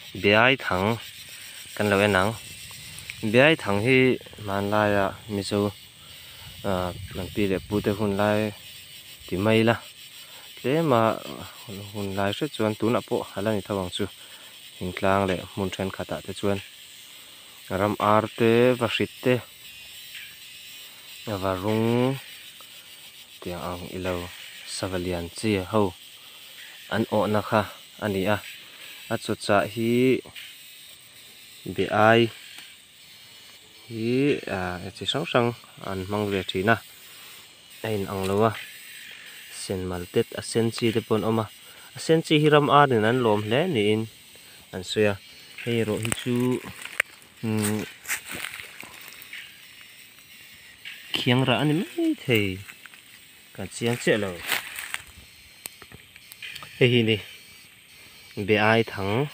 Biaithang kan lo en ang. Biaithang hi hmanlaia Mizo kan pi leh pute hun lai ti mai ila, tlema hun lai hriat chuan tunah pawh a la ni tho ang chu. Hmun tlang leh hmun thenkhatah te chuan ram ar te, va hrit te, va rung tiang ang ilo, savalian che ho an awhna kha A ni a, a chawchah hi biaai hi a chi hrang hrang an hmang ve thin a, a in ang lo a, sen mal te a sen chi te pawh an awm a, a sen chi hi ram ar in an lawm hle niin an sawi a, hei erawh hi chu umm khiang rah a ni maithei. Kan chiang chiah lo. Hei hi ni beai thang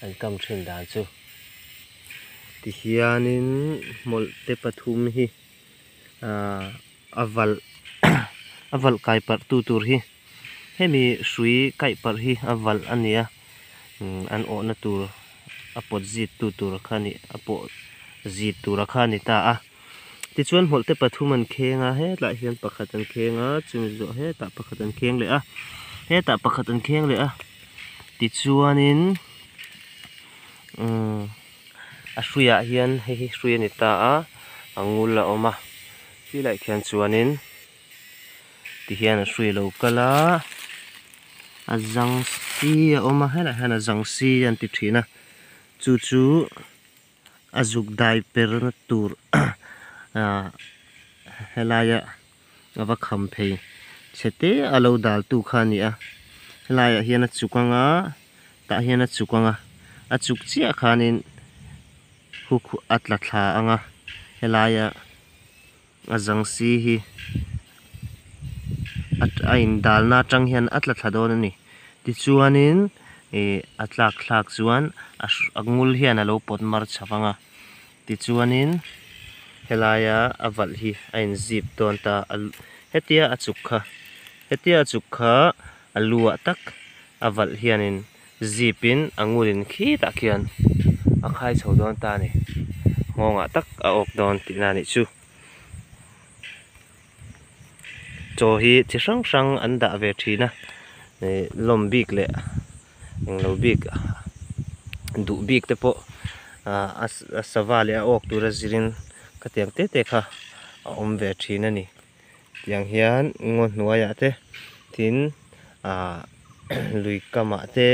an kam thin dan chu. Ti hianin mawlh te pathum hi ahh a valh a valh kai parh tu tur hi hemi hrui kaih parh hi a valh a nia an awhna tur a pawt zit tu tur kha ni a pawh zit tura kha ni ta a. Tichuan hmawlhte pathum an kheng a, hetlai hian pakhat an kheng a, chumi zawh hetah pakhat an kheng leh a, hetah pakhat an kheng leh a. Tichuanin umm a hruiah hian hei hi hrui a ni ta a, a ngul a awm a. Tlui laih khian chuanin ti hian a hrui lo kal a, a zang si a awm a, helaiah hian a zang si a ni tih thin a, chu chu-- a zuk dai per na tur helaia a va kham phei chete a lo dal tu kha a ni a, helaiah hian a chuk anga tah hian a chuk anga a chuk chiah khanin hook a tla thla anga helaia-- A zangsi hi a indalna atang hian a tla thla dawn a ni tichuanin ih a tlak thlak chuan a a ngul hian a lo pawt mar chha vang a tichuanin helaia a valh hi a in zip dawn ta a hetia a chuk kha hetia a chuk kha a luah tak a valh hianin-- zip in a ngun in khit ah khian a khai chho dawn ta ani nghawng ah tak a awk dawn tih na nih chu chaw hi chi hrang hrang an dah ve thin a ih lawm bik leh eng lo bik duh bik te pawh ah a sava leh a awk tur a zir in khatiang te te kha a awm ve thin ani. Tiang hian ngaw hnuaiah te, tin ah lui kamah te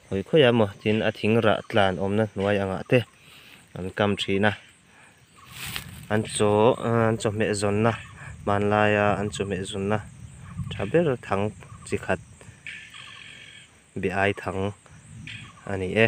hawi khawih a maw tin a thing rah tlan awmna hnuai angah te an kam thin a. An chaw an chawhmeh zawnna hmanlaia an chawhmeh zunna tha ber thang chi khat beh ai thang a ni e.